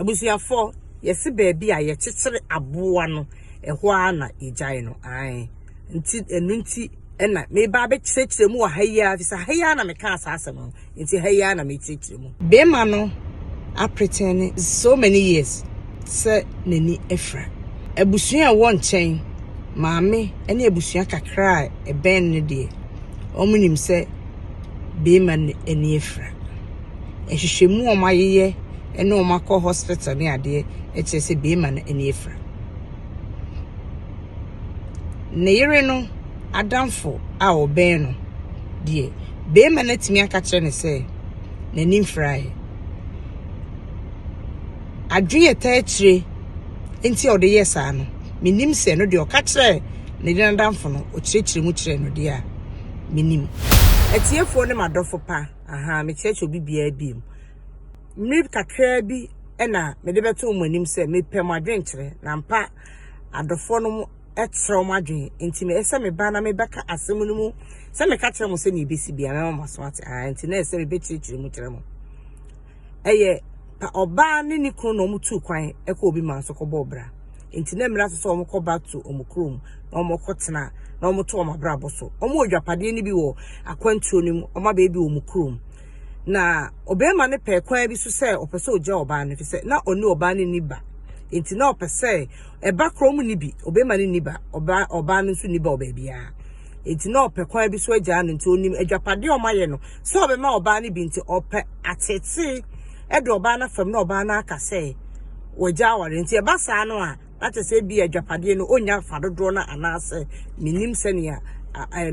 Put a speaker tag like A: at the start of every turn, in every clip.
A: Abusuafoɔ yɛse baabi a yɛkyekyere aboa no ɛhɔ ara na yɛgyae no ae nti ɛno nti ɛna meba abɛkyerɛkyerɛ mu wɔ ha yi ara fisa ha yi ara na mekaa saa asɛm no nti ha yi ara na mekyerɛkyerɛ mu. Bɛrima no apretɛne so many years sɛ n'ani afira abusua a ɛwɔ nkyɛn maame ne abusua kakra a ɛbɛn no deɛ wɔn nim sɛ bɛrima no ani afira. nhwehwɛmu a wɔayeyɛ ne wɔn akɔ hospital ne adeɛ kyerɛ sɛ bɛrima no ani afira. Ne yere no adamfo a ɔbɛn no deɛ, bɛrima no atumi aka kyerɛ no sɛ n'ani mfiraeɛ. Adwene ɛta akyire nti a ɔde yɛ saa no, menim sɛ no deɛ ɔka kyerɛ ne yere adamfo no, ɔkyerɛkyerɛ mu kyerɛ no deɛ a, menim. Atiefoɔ ne m'adɔfo pa. Ahaa, mekyerɛkyerɛ obi biara biem. Mmere kakraa bi na mede bɛto wɔn anim sɛ mepɛ mo adwenkyerɛ, na ampa adɔfoɔ no kyerɛ wɔn adwene. Enti meyɛ sɛ meba na mebɛka asɛm no mu sɛ meka kyerɛ mo sɛnea ɛbɛsi bia mɛma mo aso ate. Ahaa, enti na ɛsɛ sɛ mebɛkyerɛkyerɛ mu kyerɛ mo. ɛyɛ pa ɔbaa ne ne kunu na wɔn tuu kwan ɛkɔ obi man so kɔbɔɔ bra nti na mmira so sɛ wɔn kɔ back to wɔn kurom na wɔn kɔ tena na wɔn to wɔn abrabɔ so wɔn wɔ dwapadeɛ no bi wɔ akwantuo no mu wɔn abɛɛ bi wɔn kurom na ɔbɛrima no pɛɛ kwan bi so sɛ ɔpɛ sɛ ɔgya ɔbaa no fi sɛ na ɔne ɔbaa no ni ba nti na ɔpɛ sɛ ɛba koro mu ni bi ɔbɛrima no ni ba ɔbaa ɔbaa no nso ni ba ɔbaabiara. Enti na ɔpɛ kwan bi so agyaa no. Enti onim agyapade a wɔayɛ no sɛ ɔbɛma ɔbaa no bi nti, ɔpɛ ateetee de ɔbaa no afam na ɔbaa no aka sɛ wagya aware. Enti ɛba saa no a, na kyerɛ sɛ ebia agyapadeɛ no ɔnnya fa dodoɔ no anaasɛ mennim sɛnea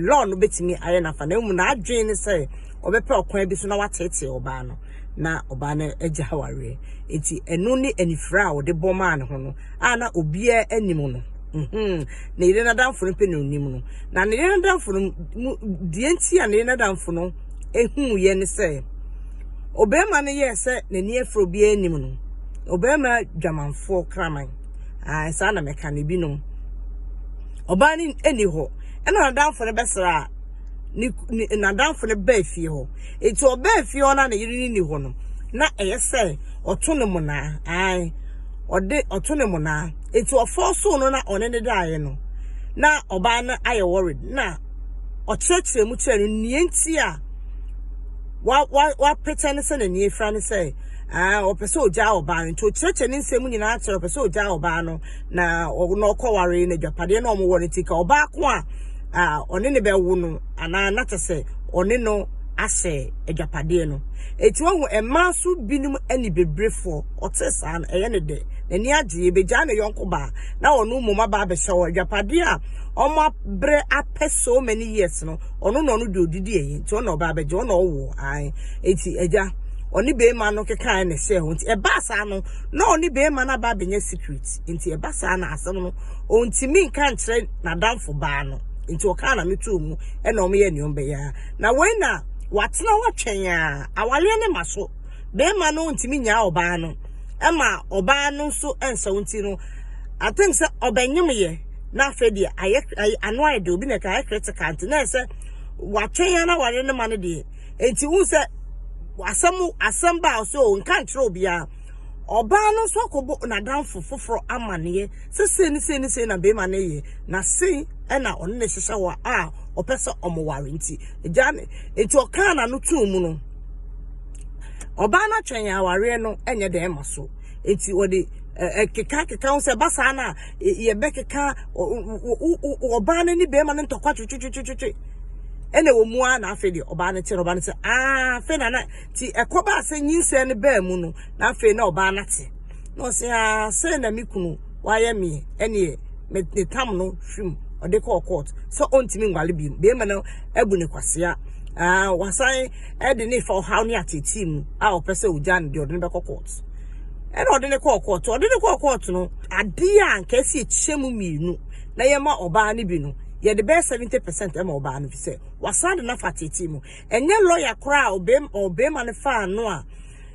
A: law no bɛtumi ayɛ n'afa. Na mmom n'adwene ne sɛ ɔbɛpɛ ɔkwan bi so na wateetee ɔbaa no na ɔbaa no agya awareɛ. Enti ɛno ne anifira a ɔde bɔ maa ne ho no a na obiara anim no. Mhm. Ne yere n'adamfo no pɛ na onim no. Na ne yere n'adamfo no mu deɛ nti a ne yere n'adamfo no ehuu yɛ ne sɛ ɔbarima no yɛɛ sɛ n'ani afura obiara anim no. Ɔbarima dwamanfoɔ kraman. Ah, saa na mɛka no binom. Ɔbaa no ɛni hɔ. Ɛna n'adamfo no bɛsra a ne n'adamfo no baa fie hɔ. Eti ɔbaa fie hɔ na ne yere no ni hɔ no. Na ɛyɛ sɛ ɔto ne monaa. Ae. Ɔde ɔto ne monaa. Enti ɔfɔɔsoo no na ɔne no daeɛ no, na ɔbaa no ayɛ worried na ɔkyerɛkyerɛ mu kyerɛ no nea nti a wa wa wapɛkyɛ no sɛ n'ani afira no sɛ ɛɛ ɔpɛ sɛ ɔgyaa ɔbaa no nti ɔkyerɛkyerɛ ne nsɛm nyinaa kyerɛ ɔpɛ sɛ ɔgyaa ɔbaa no na ɔno ɔkɔware na adwapadeɛ na ɔmo wɔ no ti ka ɔbaa ko a ɔne ne bɛwo no anaa na kyɛ sɛ ɔne no ahyɛ adwapadeɛ no eti wɔn ho mmaa so binom ani bebrefo. Ɔtee saa no, ɛyɛ no dɛ. N'ani agye. Ebegyaa ne yɔnko baa na ɔno mmom aba abɛhyɛ hɔ. Adwapade a wɔabrɛ apɛ so many years no, ɔno na ɔno de odidi ɛyɛ. Nti ɔno na ɔba abɛgye. Ɔno na ɔwo. Ae. Nti agya, ɔne beema no kekae na ɛhyɛɛ hɔ. Nti ɛbaa saa no, na ɔne beema no aba abɛnya secret. Nti ɛba saa na asɛm no, ɔntumi nka nkyerɛ n'adamfo baa no. Nti ɔkaa na metoo mu na wɔyɛɛ nea wɔbɛyɛ ara. Na wei na wɔatena hɔ atwɛn ara. Awareɛ no mma so. barima no ntumi nyaa ɔbaa no ɛma ɔbaa no nso ɛnsɛw nti no I think sɛ ɔbɛnyemyɛ na afei deɛ ayɛ ayɛ ano ayɛ de obi na ɛka ayɛ critical nti na ɛsɛ watwɛn ya na ware ne ma no deɛ nti wohu sɛ asɛm asɛm ba a ɔsɛ o nka nkyerɛ obiara ɔbaa no nso akɔbɔ n'adanfo foforɔ amaneɛ sɛ sei ne sei ne sei na barima no yɛ na sei ɛna ɔne ne hyehyɛ hɔ a ɔpɛ sɛ ɔmo ware nti agya ne nti ɔkaa n'ano tuu mu no ɔbaa no atwɛn awareɛ no nyɛ dɛn ma so nti wɔde ɛkeka keka ho sɛ ɛba saa no a yɛbɛkeka ɔbaa no ne bɛrima no ntɔkwa twetwetwetwe ɛna wɔn mu ara na afei deɛ ɔbaa no te no ɔbaa no sɛ aa afei na na ti ɛkɔba asɛ nyinsɛn no baa mu no na afei na ɔbaa no ate. na ɔse aa sɛ na me kunu wayɛ me ɛneɛ me ne tam no hwim ɔde kɔɔ court sɛ ɔntumi nwale bi bɛrima no abu ne kwasea aa wasan ɛde ne fa ɔhaw ne ateetee mu a ɔpɛ sɛ ɔgya ne deɛ ɔde ne bɛkɔ court ɛna ɔde ne kɔɔ court ɔde ne kɔɔ court no adeɛ a nka ɛsi ɛkyɛ mu mmienu na yɛma ɔbaa no bi no yɛde bɛyɛ seventy percent ɛma ɔbaa no fi sɛ wasan de nafa ateetee mu ɛnyɛ lɔya koraa a ɔbɛrima no faa no a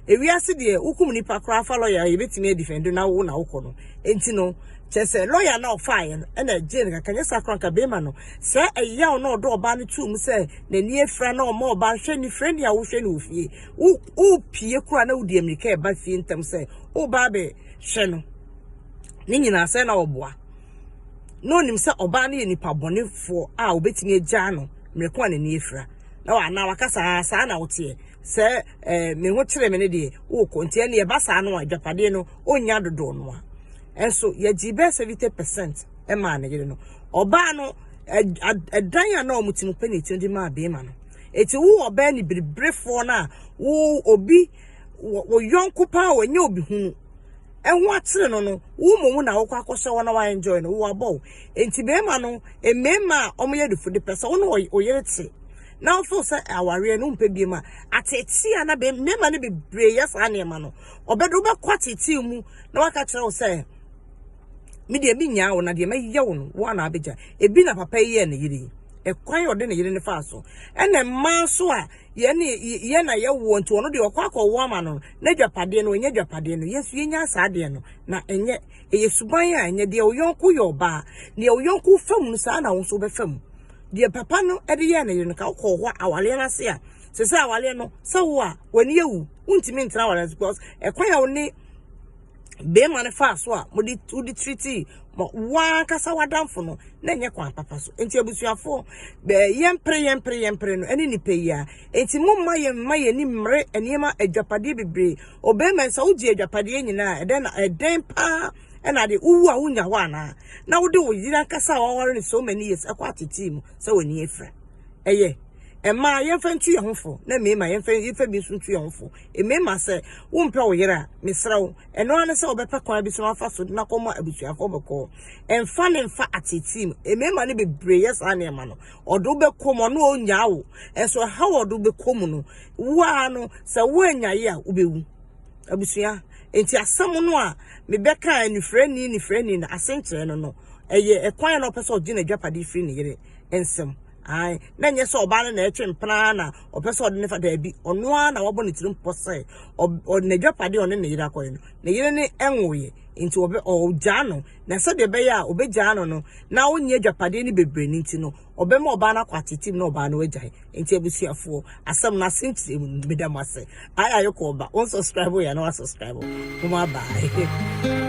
A: ewiase deɛ wokum nipa koraa fa lɔya a yɛbɛtumi adifɛndo na wo na wokɔ no nti no kyerɛ sɛ lɔya na ɔfaeɛ no ɛna ɛgyee no kakra nyɛ saa koraa nka bɛrima no sɛ ɛyaw na ɔdɔ ɔbaa no tuu mu sɛ n'ani afira na ɔma ɔbaa no hwɛ ne frɛ ni a wohwɛ no wɔ fie wopie koraa na wodi mmirika ɛba fie ntam sɛ wobaa bɛhwɛ no ne nyinaa sɛ na ɔboa na onim sɛ ɔbaa no yɛ nipa bɔnefoɔ a obetumi agyaa no mmerɛko a n'ani afira na wɔanaa wakasa saa na woteɛ Sɛ me ho kyere me no deɛ, wokɔ. Nti ɛnneɛ ɛba saa no a, agyapadeɛ no, ɔnnya dodoɔ no a. Nso yɛgyee bɛyɛ seventy percent maa ne yere no. Ɔbaa no, ɛdan a na wɔte mu pɛ na ɛti no de maa beema no. Ɛti wo ɔbaa ni biribirefoɔ no a, wo obi, wo yɔnko paa a ɔnyɛ obi hunu, ɛho akyere no no, wo mmom na wokɔ akɔhyɛ hɔ na wa enjoy no, wo abɔ wo. Nti beema no, mmeema a wɔyɛ adufo de pɛ sɛ wo ne wo yere te. na wo feel sɛ awareɛ no wompɛ biom a ateetee a na mmarima no bebree yɛ saa nneɛma no ɔbɛdo wobɛkɔ ateetee mu na waka kyerɛ wo sɛ me deɛ me nyaa wo na deɛ mɛyɛ wo no wo anaa bɛgya ebi na papa yi yɛ ne yere yi ɛkwan ɔde ne yere ne faa so ɛna mmaa so a yɛne yɛ na yɛwoɔ nti ɔno deɛ ɔkɔ akɔwo ama no n'adwapadeɛ no ɛnyɛ adwapadeɛ no yɛnso yɛnya saa deɛ no na ɛnyɛ ɛyɛ suban a ɛnyɛ deɛ ɔyɔnko yɛ ɔbaa deɛ ɔyɔnko fa mu no saa na wo nso wobɛfa mu deɛ papa no de yɛɛ ne yere no ka wokɔɔ hɔ a awaleɛ no ase a sɛ sɛ awaleɛ no sɛ wo a w'ani awu wontumi ntena awaleɛ no because ɛkwan a wo ne bɛrima no faa so a mode wode tiriti wankasa w'adamfo no na ɛnyɛ kwan papa so nti abusuafoɔ bɛɛ yɛmpere yɛmpere yɛmpere no ɛne nipa yi a nti mo mma yɛn mma yɛn ni mmere nneɛma adwapadeɛ bebree ɔbɛrima nsa wogye adwapadeɛ nyinaa ɛdɛn na ɛdɛn paa ɛna de wowu a wonya hɔ anaa na wode wo yere ankasa a wɔaware no so many years ɛkɔ atetii mu sɛ w'ani afira ɛyɛ ɛma yɛmfa ntu yɛn ho fo na mmarima yɛmfa yɛmfa bi nso ntu yɛn ho fo mmarima sɛ wompɛ wo yere a mesrɛ wo ɛno ara ne sɛ wɔbɛpɛ kwan bi so afa so de no akɔma abusuafoɔ bɛkɔɔ ɛmfa ne mfa atetii mu mmarima no bebree yɛ saa nneɛma no ɔde wobɛkɔ mu ɔno ɔnyaa wo ɛnso ɛha wɔ ɔde wobɛkɔ mu no woa no sɛ woanyaye a wobɛwu Abusua, enti asɛm no a mebɛka anifirani nifirani na ase nkyerɛ no no, ɛyɛ ɛkwan a na ɔpɛ sɛ ɔgye n'adwapade firi ne yere nsam. Ae, na nyɛ sɛ ɔbaa no na ɛretwe mpena na ɔpɛ sɛ ɔde ne fa daabi. Ɔno ara na wabɔ ne tirim pɔ sɛ ɔ, n'adwapade a ɔne ne yere akɔyɛ no, ne yere ne nwoeɛ, enti ɔbɛ, ɔgyaa no. Na sɛdeɛ ɛbɛyɛ a ɔbɛgyaa no no, na ɔnyɛ adwapadeɛ no bebree no nti no, Ɔbɛma ɔbaa no akɔ atetem na ɔbaa no agyae. Nti abusuafoɔ, asɛm no ase nkyerɛ mu no, meda mo ase. Ae Ayoko ɔba, wo nsubscribe yɛ a na wa subscribe. Moma bye.